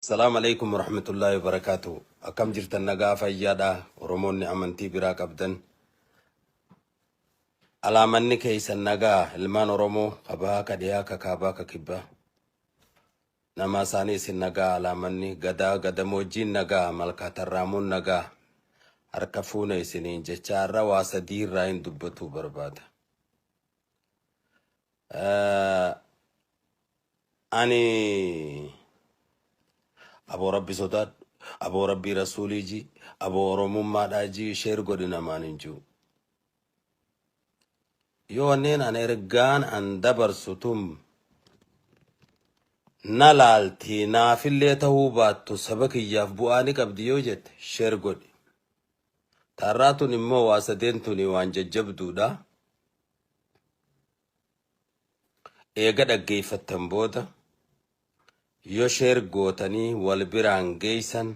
Salaam Aleeykum Warahmatullaahi Wabarakaatuhu Akkam jirtan nagaa fayyaadha Oromoonni amantii biraa qabdan Alaa manni keeysan nagaa ilmaan Oromoo ka bahaa ka dhihaa ka kaabaa ka kibbaa namaa isaanii isin nagaa alaa manni gadaa gadamoojjiin nagaa malkaa tarraamuun nagaa harka fuuna isiniin jechaa irra waa sadii irraa hin dubbatuu barbaada. Eh, Ani aboo rabbi sodaadhu aboo rabbii rasuulii ji aboo oromummaadhaa ji sheer godhi namaan hin jiru. Yoo wanneen an ergaan an dabarsu tun na laalti naafillee ta'uu baattu saba kiyyaaf bu'aa ni qabdi yoo jette sheer godhi. Taarraa tun immoo waa sadeen tuni waan jajjabduudha. Eega dhaggeeffattan booda yoo share gootanii wal biraan geeysan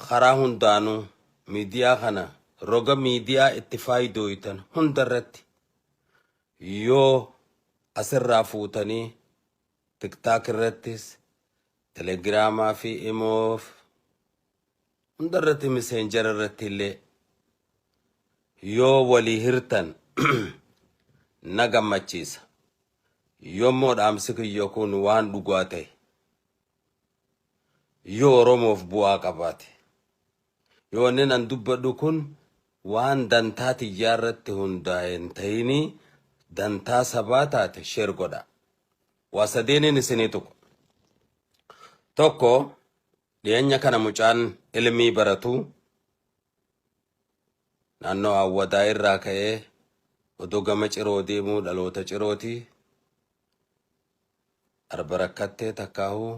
karaa hundaanuu miidiyaa kana roga miidiyaa itti faayidooytan hunda irratti yoo asirraa fuutanii tiktaak irrattis telegiraamaa fi imoof Hunda irratti miseenjara irratti illee yoo walii hirtan na gammachiisa. Yommuu dhaamsi kiyya kun waan dhugaa ta'e, yoo Oromoof bu'aa qabaate, yoo wanni nan dubbadhu kun waan dantaa tiyyaa irratti hundaa'e hin ta'inii dantaa sabaa taate sheer godha. Waa sadeeniin isinii tuqu. Tokko Dhiyeenya kana mucaan Ilmii baratu naannoo Awwadaa irraa ka'ee odoo gama Ciroo deemuu dhaloota Cirooti. Arba rakkattee takkaahu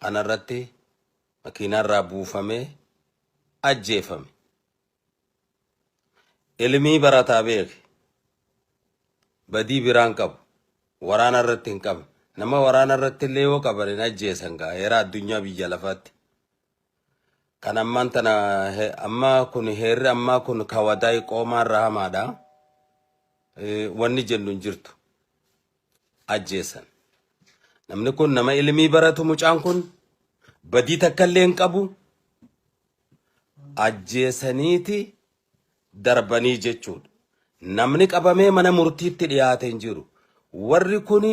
kanarratti makiinaarraa buufamee ajjeefame. Ilmii barataa beeki badii biraan qabu waraana irratti hin qabne nama waraana irratti illee yoo qaban hin ajjeesan gaa heera addunyaa biyya lafaatti kan ammaan tana he- amma kun heerri ammaa kun kawadaay qoomaa irra hamaadha Eh, wanni jennu hin jirtu ajjeesan namni kun nama ilmii baratu mucaan kun badii takka illee hin qabu ajjeesaniiti darbanii jechuudha. Namni qabamee mana murtiitti dhiyaate hin jiru. Warri kun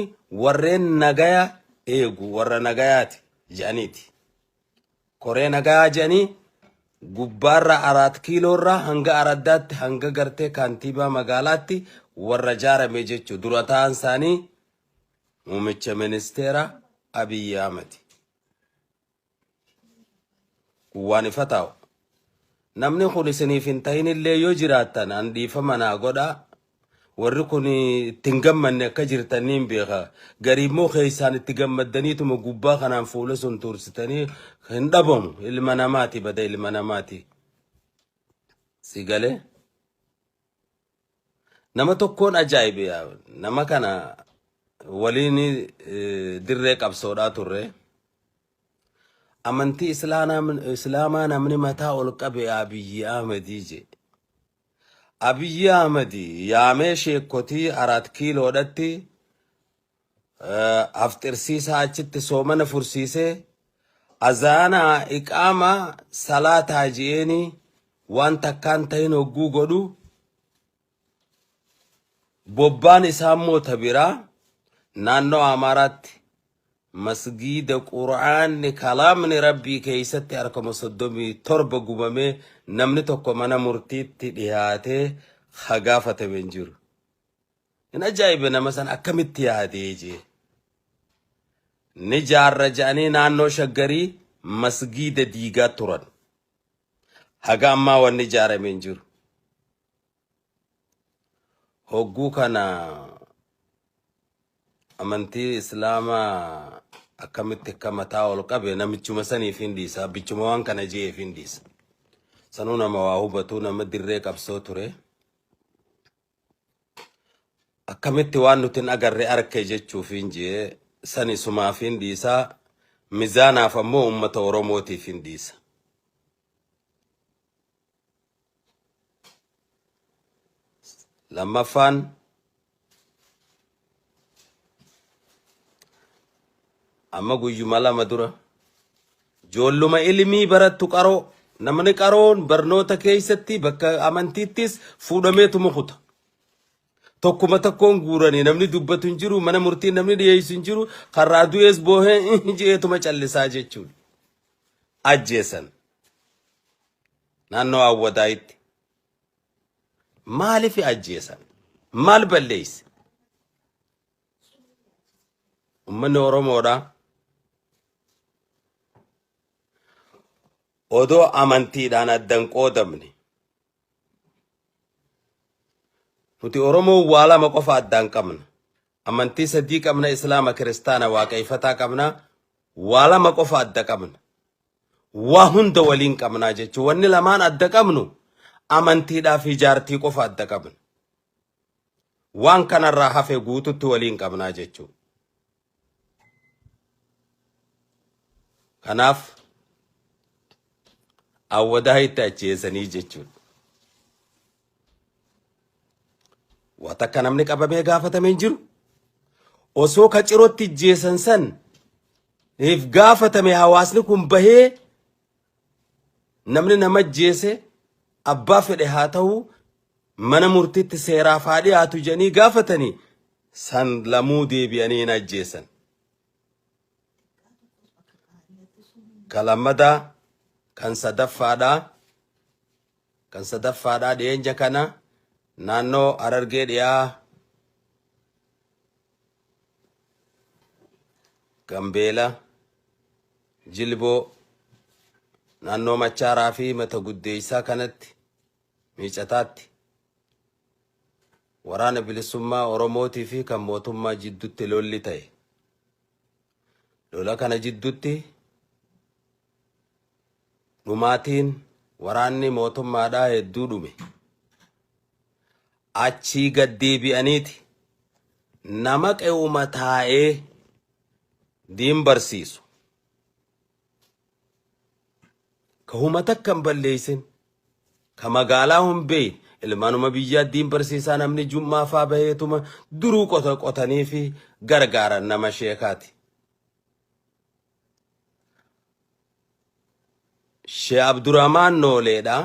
warreen nagaya eegu warra nagayaati jedhaniiti. Koree nagayaa jedhanii gubbaarraa araat kiiloorraa hanga araddaatti hanga gartee kaantiibaa magaalaatti warra jaarame jechuudha. Dura ta'an isaanii muummicha ministeera Abiyyi Ahmadi. Kuwwaan ifa taa'u. Namni kun isiniif hin ta'inillee yoo jiraattan an dhiifama naa godhaa. Warri kun itti hin gammanne akka jirtan niin beeka. Garii immoo keessaan itti gammaddaniituma gubbaa kanaan fuula sun tuursitanii hin dhabamu. Ilma namaati bada ilma namaati. Si galee? Nama tokkoon ajaa'ibe yaa nama kana waliin eh, dirree qabsoodhaa turre. Amantii Islaanaa- Islaamaa namni mataa ol qabe Abiyyi Ahmedii je. Abiyyi Ahmedii yaamee sheekkotii Araat Kiiloodhatti afxirsiisaa achitti soomana fursiisee azaanaa iqaamaa salaataa ji'eenii waan takkaan tahin hogguu godhu bobbaan isaa immoo ta biraa naannoo Amaaraatti masgiida quraanni kalaamni rabbii keeysatti harkama soddomii torba gubamee namni tokko mana murtiitti dhihaatee ha gaafatame hin jiru. Hin ajaa'ibe nama san akkamitti yaadee jee. Ni jaarra ja'anii naannoo shaggarii masgiida diigaa turan. Haga ammaa wanni ijaarame hin jiru. Hogguu kana amantii islaamaa akkamitti akka mataa ol qabe namichuma saniif hin dhiisa. Abbichuma waan kana je'eef hin dhiisa. Sanuu nama waa hubatu nama dirree qabsoo ture. akkamitti waan nuti hin agarre arke jechuufiin jee sani sumaafiin dhiisaa mizaanaaf ammoo ummata oromootiif hin dhiisa lammaffaan Amma guyyuma lama dura joolluma ilmii barattu qaroo namni qaroon barnoota keessatti bakka amantiittis fuudhamee tumukuta. Tokkuma tokkoon guuranii namni dubbatu hin jiru mana murtii namni dhiyeessu hin jiru karraa du'ees boohee jeetuma callisaa jechuudha. Ajjeesan naannoo Awwadaayitti. Maaliif ajjeesan? Maal balleesse? Uummanni Oromoodha. Odoo amantiidhaan addan qoodamne. Nuti Oromoo waa lama qofa addaan qabna. Amantii sadii qabna, Islaama, Kiristaana, Waaqayfataa qabna. Waa lama qofa adda qabna. waa hunda waliin qabnaa jechuun wanni lamaan adda qabnu amantiidhaa fi jaartii qofa adda qabna. Waan kanarraa hafe guututti waliin qabnaa jechuun. Kanaaf awwadaa itti acheessanii jechuudha. Waa takka namni qabamee gaafatame hin jiru. Osoo ka cirootti ijjeessan san if gaafatame hawaasni kun bahee namni nama ajjeese abbaa fedhe haa ta'u mana murtiitti seeraaf haa dhiyaatu jedhanii gaafatanii san lamuu deebi'anii hin ajjeessan. Ka lammadaa kan sadaffaadhaa Kan sadaffaadha dhiyeenya kana naannoo Harargee dhiyaa Gambeela, Jilboo, naannoo Machaaraa fi Mata Guddeessaa kanatti miicataatti waraana bilisummaa Oromootii fi kan mootummaa jidduutti lolli ta'e. Lola kana jiddutti dhumaatiin waraanni mootummaadhaa hedduu dhume. Achii gad deebi'aniiti nama qe'uma taa'ee diin barsiisu. ka huma takka hin balleessin, ka magaalaa hin beeyin, ilmaanuma biyyaa diin barsiisaa namni jum'aa faa baheetuma duruu qota qotanii fi gargaaran nama sheekaati. Shee Abdurahmaan Nooleedha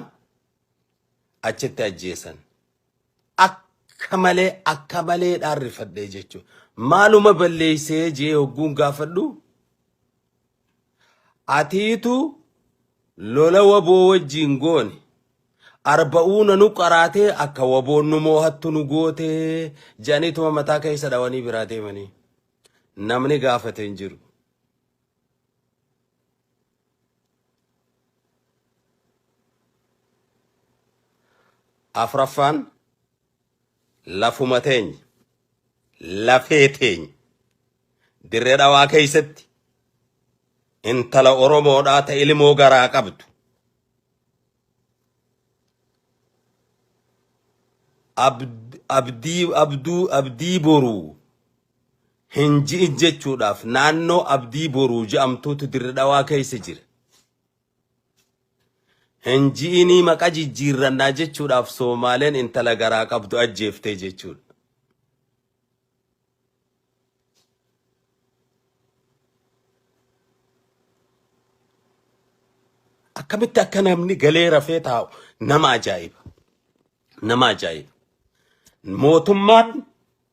achitti ajjeesan. Akka malee akka malee dhaarrifadhee jechuudha. Maaluma balleessee jee hogguun gaafadhu Atiitu lola waboo wajjiin goone arba'uuna nu qaraatee akka waboon nu moohattu nu gootee jedhaniituma mataa keessa dhawanii biraa deemanii namni gaafate hin jiru. Afraffaan Lafuma teenya, lafee teenya, Dirre Dhawaa keessatti intala Oromoodhaa ta ilmoo garaa qabdu, Abdii, Abduu, Abdii Boruu hin ji'in jechuudhaaf naannoo Abdii Boruu je'amtuutu Dirre Dhawaa keessa jira. Hin ji'inii maqa jijjiirrannaa jechuudhaaf Soomaaleen intala garaa qabdu ajjeeftee jechuudha. Akkamitti akka namni galee rafee taa'u nama ajaa'iba. nama ajaa'iba. Mootummaan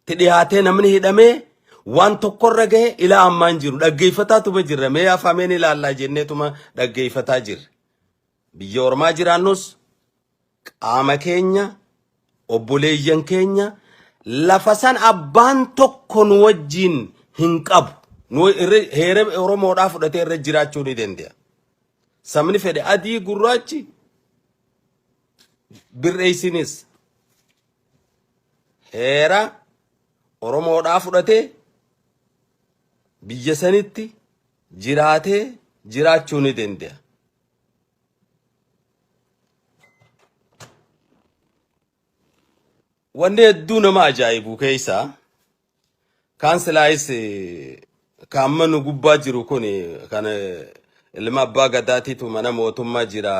ti dhiyaatee namni hidhamee waan tokkorra gahe ilaa ammaa hin jiru. Dhaggeeffataa tuma jirra. Mee afaameen ilaallaa jennee tuma dhaggeeffataa jirra. Biyya ormaa jiraannus qaama keenya, obboleeyyan keenya lafa san abbaan tokko nu wajjiin hin qabu. Nu irra heera Oromoodhaa fudhatee irra jiraachuu ni danda'a. Sabni fedhe adii gurraachi birreessinis heera Oromoodhaa fudhatee biyya sanitti jiraatee jiraachuu ni danda'a. Wanni hedduu nama ajaa'ibu keessaa Kaan silaayis ka amma nu gubbaa jiru kun kan ilma abbaa gadaatiitu mana mootummaa jira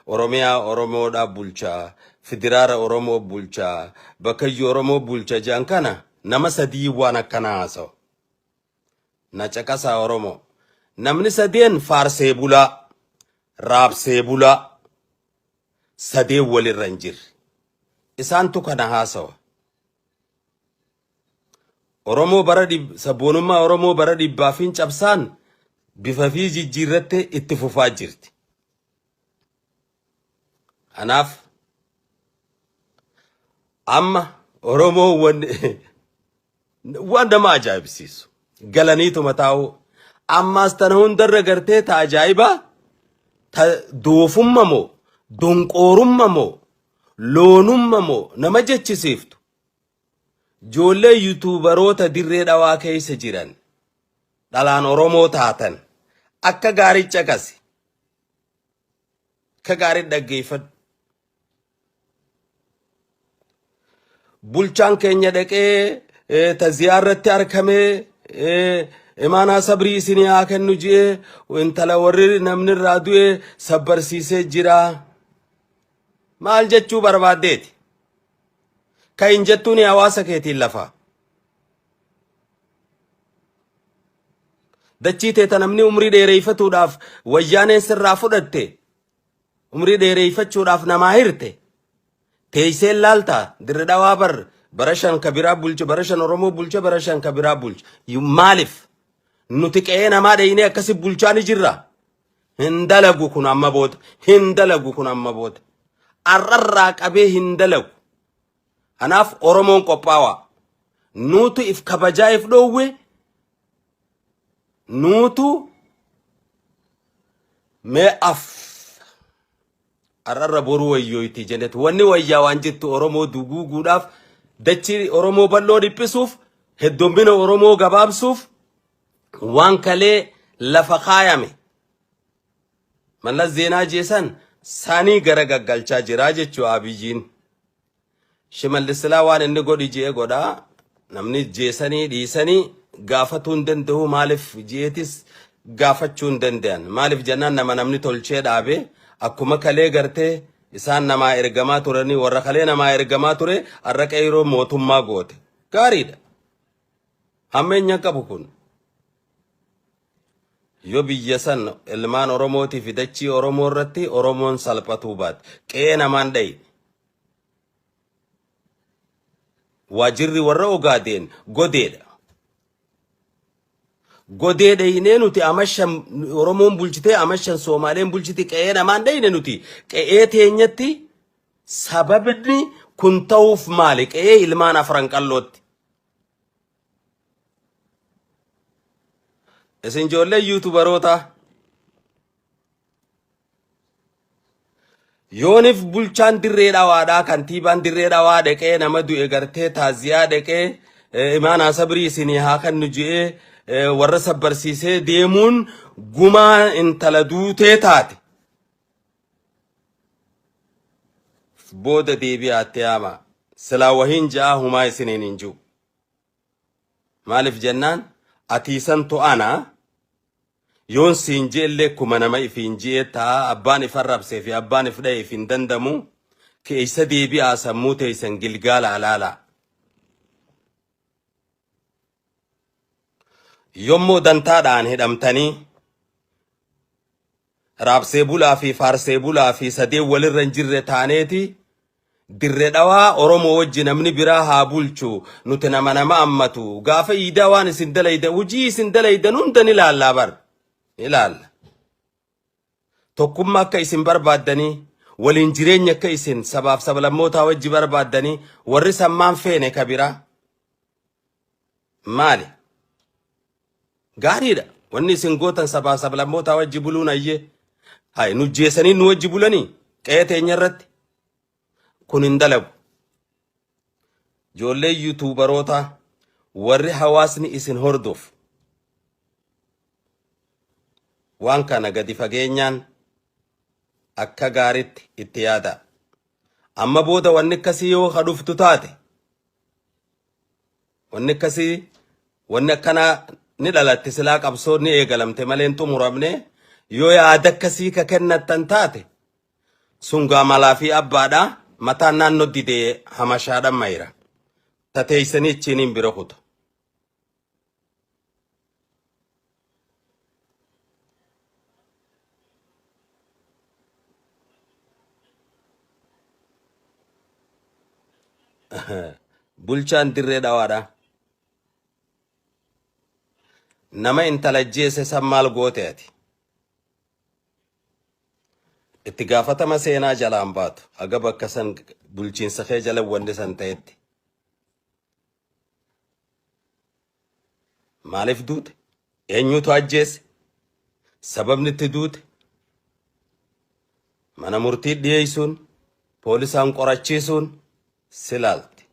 oromiyaa oromoodhaa bulcha fidiraara oromoo bulcha bakkayyuu oromoo bulcha jedhan kana nama sadii waan akkanaa haasawa na caqasaa oromoo namni sadeen faarsee bulaa raabsee bulaa sadeen walirra hin jirre isaantu kana haasawa Oromoo bara dhib- sabboonummaa Oromoo bara dhibbaa fi cabsaan bifa fi jijjiirrattee itti fufaa jirti. Kanaaf amma Oromoo wan waan nama ajaa'ibsiisu galaniituma taa'uu ammaas tana hundarra gartee ta ajaa'ibaa ta doofumma moo donqoorumma moo Loonumma moo nama jechisiiftu? Joollee yutuubaroota dirree dhawaa keessa jiran dhalaan Oromoo taatan akka gaarii caqasi. Akka gaarii dhaggeeffadhu. Bulchaan keenya dhaqee eh, taziyaa irratti argamee eh, imaanaa sabrii isinii haa kennu ji'ee intala warri namni irraa du'e sabbarsiisee jira. Maal jechuu barbaaddeeti? Ka hin jettuuni hawaasa keetiin lafaa. Dachii tee ta namni umrii dheereeyfatuudhaaf wayyaaneen sirraa fudhatte umrii dheereeyfachuudhaaf namaa hirte teeyseen laaltaa dirri dhawaa bar bara shan ka biraa bulche bara shan oromoo bulche bara shan ka biraa bulche Yu- maaliif nuti qe'ee namaa dheeynee akkasi bulchaa ni jirra Hin dalagu kun amma booda. Hin dalagu kun amma booda. Arrarraa qabee hin dalagu. Kanaaf Oromoon qophaawaa. Nuutu if kabajaa if dhoowwe. Nuutu mee af. Arrarra boruu wayyooyti jenet. Wanni wayyaa waan jettu Oromoo duguuguudhaaf dachii Oromoo bal'oo dhiphisuuf heddommina Oromoo gabaabsuuf Waan kalee lafa kaayame Mallas Zeenaa jeesan sanii gara gaggalchaa jiraa jechuu Abiyiin. Shimallis silaa waan inni godhi je'e godha. Namni jeesanii dhiisanii gaafatuu hin danda'u maaliif je'etis gaafachuu hin danda'an. Maaliif jennaan nama namni tolchee dhaabe akkuma kalee gartee isaan namaa ergamaa turanii warra kalee namaa ergamaa ture har'a qeyroo mootummaa goote. Gaariidha. Hammeenya qabu kun yoo biyya san ilmaan Oromootii fi dachii Oromoo irratti Oromoon salphatuu baate qe'ee namaan dhayi. Waajirri warra Ogaadeen godeedha. Godee dhayinee nuti amashan Oromoon bulchitee amashan Soomaaleen bulchiti qe'ee namaan dhayine nuti qe'ee teenyatti sababni kun ta'uuf maali qe'ee ilmaan afran qallootti Isin ijoollee yuutubarootaa yoonif bulchaan dirree dhawaadhaa kantiibaan dirree dhawaa dhaqee nama du'e gartee taaziyaa dhaqee eh, imaanaa sabrii isinii haa kennu je'ee eh, warra sabbarsiisee deemuun gumaa intala duutee taate. booda deebi'aa itti yaamaa silaa wahiin ja'aa humaa isiniin hin jiru maaliif jennaan atiisan to'ana yoon siin je'ellee kuma nama ifiin je'ee ta'a abbaan if arrabsee fi abbaan if dha'e if hin dandamu keeysa deebi'aa sammuu teeysan gilgaala alaala Yommuu dantaadhaan hidhamtanii raabsee bulaa fi faarsee bulaa fi sadeen walirra hin jirre taaneeti dirre dhawaa Oromoo wajji namni biraa haa bulchu nuti nama nama ammatu gaafa iidaa waan isin dalaydan hujii isin dalaydan hunda ni laallaa bar ni laalla. Tokkumma akka isin barbaaddanii, waliin jireenya akka isin sabaaf sablammootaa wajji barbaaddanii warri sammaan feene ka biraa maali? Gaariidha. Wanni isin gootan sabaaf sablammootaa wajji buluun ayyee. Hay nujjeesanii nu wajji bulanii qe'ee teenya irratti. Kun hin dalagu. Ijoollee yuutuubarootaa warri hawaasni isin hordof waan kana gadi fageenyaan akka gaaritti itti yaadaa. Amma booda wanni akkasii yoo ka dhuftu taate wanni akkasii wanni akkanaa ni dhalatte silaa qabsoo ni eegalamte malee hin xumuramne yoo yaada akkasii ka kennattan taate Sungaa malaa fi abbaadha mataan naannoo didee hamashaadha mayra tateeysanii ichiiniin bira kutu. Bulchaan dirree dhawaadha. Nama intala jeese san maal goote ati? Itti gaafatama seenaa jalaa hin baatu. Haga bakka san bulchiinsa kee jala wanni san ta'etti. Maaliif duute? Eenyutu ajjeese? Sababni itti duute? Mana murtii dhiyeessuun, poolisaan qorachiisuun si laalti.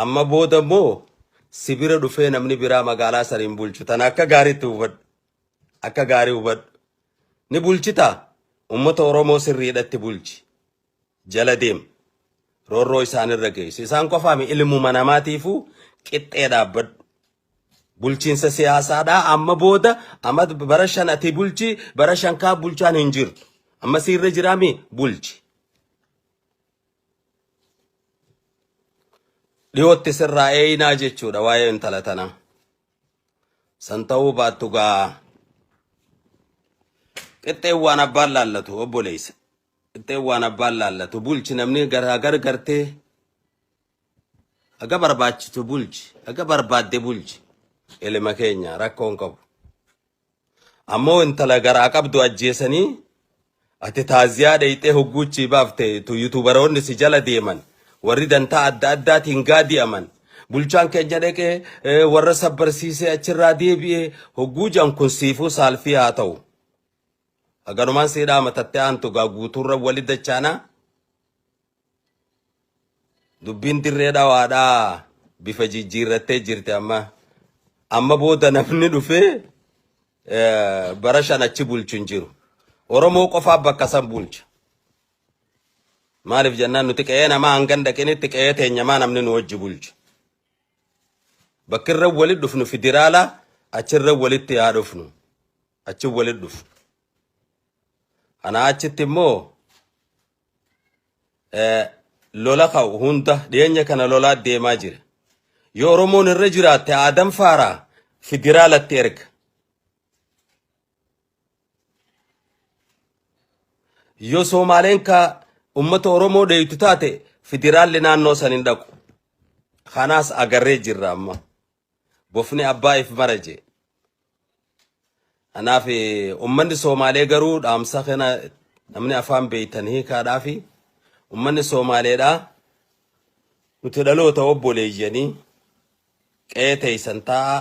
Amma booda immoo si bira dhufee namni biraa magaalaa sana hin bulchu. Tana akka gaariitti hubadhu. Akka gaarii hubadhu. Ni bulchita. Uummata Oromoo sirriidhatti bulchi. Jala deem. Roorroo isaanirra geessi. Isaan qofaami ilmuma namaatiifuu qixxee dhaabbadhu. Bulchiinsa siyaasaadhaa amma booda amma bara shan ati bulchi bara shan kaa bulchaan hin jirtu. Amma siirra jiraami bulchi. Dhiyootti sirraa eeyinaa jechuudha waa'ee intala tanaa. San ta'uu baattu gaa qixxeen waan abbaan laallatu obboleessa. Qixxeen waan abbaan laallatu bulchi namni garaa gargartee Haga barbaachitu bulchi, haga barbaadde bulchi. Ilma keenya rakkoo hin qabu. Ammoo intala garaa qabdu ajjeesanii ati taaziyaa dheyxee hogguuchii baafte tu yutubaroonni si jala deeman warri dantaa adda addaatiin gaadi'aman bulchaan keenya dhaqee eh, warra sabbarsiisee achirraa deebi'ee hogguu jan kun siifuu saalfii haa ta'u. Haganumaan sii dhaamatatte aantu gaa guutuurra wali dachaanaa. Dubbiin dirree dhawaadhaa bifa jijjiirrattee jirti amma. Amma booda namni dhufee eh, bara shan achi bulchu hin jiru. Oromoo qofaa bakka san bulcha. Maaliif jennaan nuti qe'ee namaa hangan dhaqinitti qe'ee teenyamaa namni nu wajji bulchu. Bakkirra walitti dhufnu federaala achirra walitti haa dhufnu. Achi walitti dhufnu. Anaa achitti immoo eh, lola ka'u hunda dhiyeenya kana lolaa deemaa jira. Yoo Oromoon irra jiraatte Aadam Faaraa federaalatti erga. Yoo Soomaaleen ka uummata Oromoo dheeytu taate federaalli naannoo san hin dhaqu. Kanaas agarree jirra amma. bofni abbaa if mara jee. Kanaaf ummanni Soomaalee garuu dhaamsa kana namni afaan beektan hiikaadhaafi ummanni Soomaaleedhaa nuti dhaloota obboleeyyanii qe'ee teeysan taa'aa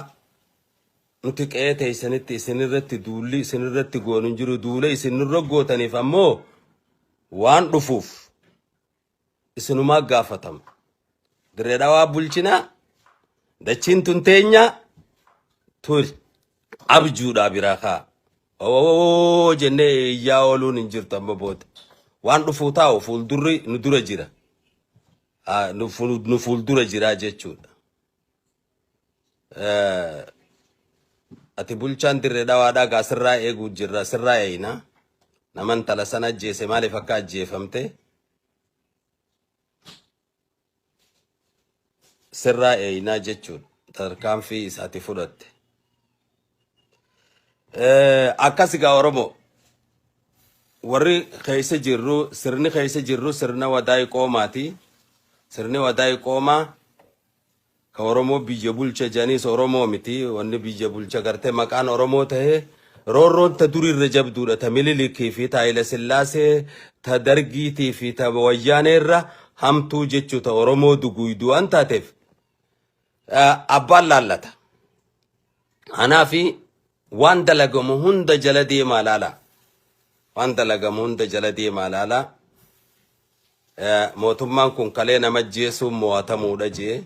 nuti qe'ee teeysanitti isinirratti duulli isinirratti goonu hin jiru duula isinirra gootaniif ammoo waan dhufuuf isinumaa gaafatama. Dirree dhawaa bulchinaa dachiin tun teenyaa turi abjuudhaa biraa kaa. Owowowoo jennee iyyaa ooluun hin jirtu amma booda. Waan dhufuu taa'u fuuldurri nu dura jira. Ah, Nu fuul- nu fuuldura jira jechuudha. Eh, Ati bulchaan dirree dhawaadhaa gaa sirraa eeguu jirra sirraa eeyna. Nama intala sana ajjeese maaliif akka ajjeefamte sirraa eeynaa jechuudha. Tarkaanfii isa ati fudhatte. Eh, Akkas gaa Oromoo warri keessa jirru sirni keessa jirru sirna wadaay qoomaati. Sirni wadaay qoomaa Ka oromoo biyya bulcha janiis oromoo miti wanni biyya bulcha garte maqaan oromoo tahe roorroon ta duri irra jabduudha ta mililikii fi ta hayila sillaasee ta dargiitii fi ta wayyaanee irra hamtuu jechuu ta oromoo duguuyduu waan taateef abbaan laallata Anaa fi waan dalagamu hunda jala deemaa laala. Waan dalagamu hunda jala deemaa laala. Mootummaan kun kalee nama ajjeesuun mo'atamuudha jee.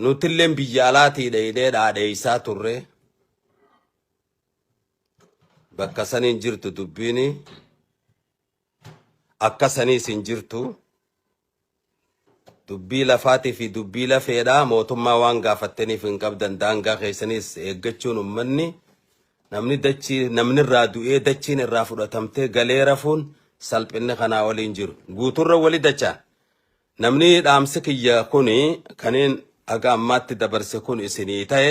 Nutilleen biyya alaatii dheedhee dhaadheessaa turre. Bakka saniin jirtu dubbiin akka saniis hin jirtu. Dubbii lafaati fi dubbii lafeedha. Mootummaa waan gaafattaniif hin qabdan. Daangaa keessanis eeggachuun ummanni namni dachii namni irraa du'ee dachiin irraa fudhatamtee galee rafuun salphinni kanaa olii hin jiru. Guuturra wali dachaan. Namni dhaamsi kiyya kuni kaniin haga ammaatti dabarse kun isinii ta'e.